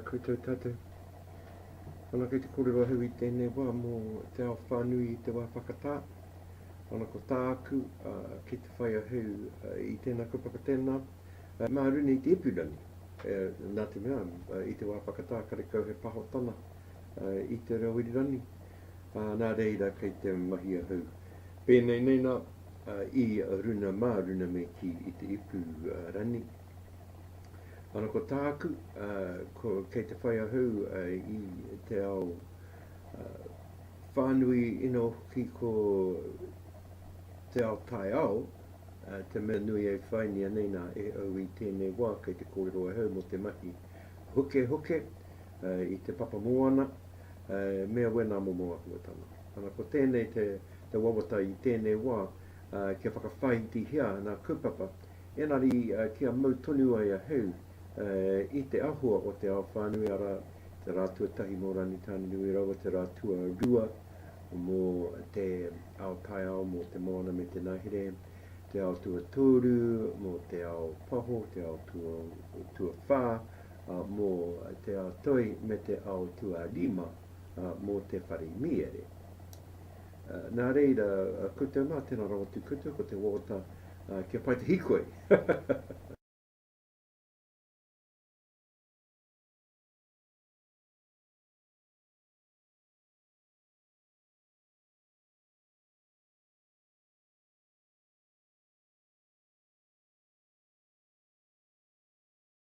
Koutou tatou. Ana kei te korero ahau i tēnei wā mō te ao whānui i te wā whakatā. Ana ko tāku, uh, kei te whai ahau uh, i tēnā kaupapa tēnā. Uh, mā runei te ipurangi, uh, nā te mea, uh, i te wā whakatā karekau he pahotana, i te reo irirangi, ā, nā reira kei te mahi ahau pēnei nei nā, i runa mā runa me kī i te ipu rani. Ana ko tāku, ko, kei te whai ahau i te ao whānui ina hoki ko te ao tai ao, te mea nui e whainia nei nā e au i tēnei wā kei te kōrero ahau mō te mahi hukehuke, i te papa moana me a wena momo ahuatanga. Ana ko tenei te wawata i tenei wa kia whakawhaitihia ana kaupapa enari kia mau tonu ai a Heu i te ahua o te ao whanui ara te ra tuatahi mo Rangitaninui raua te ra tuarua mo te ao taiao mo te moana me te nahere, te ao tuatoru mo te ao paho, te ao tuawha, mō Te Ao Toi me Te Ao Tuarima mō te whare mīere. Nā reira, ko te mā tēnā rawa tū koutou, ko te wōta kia pai te hikoi.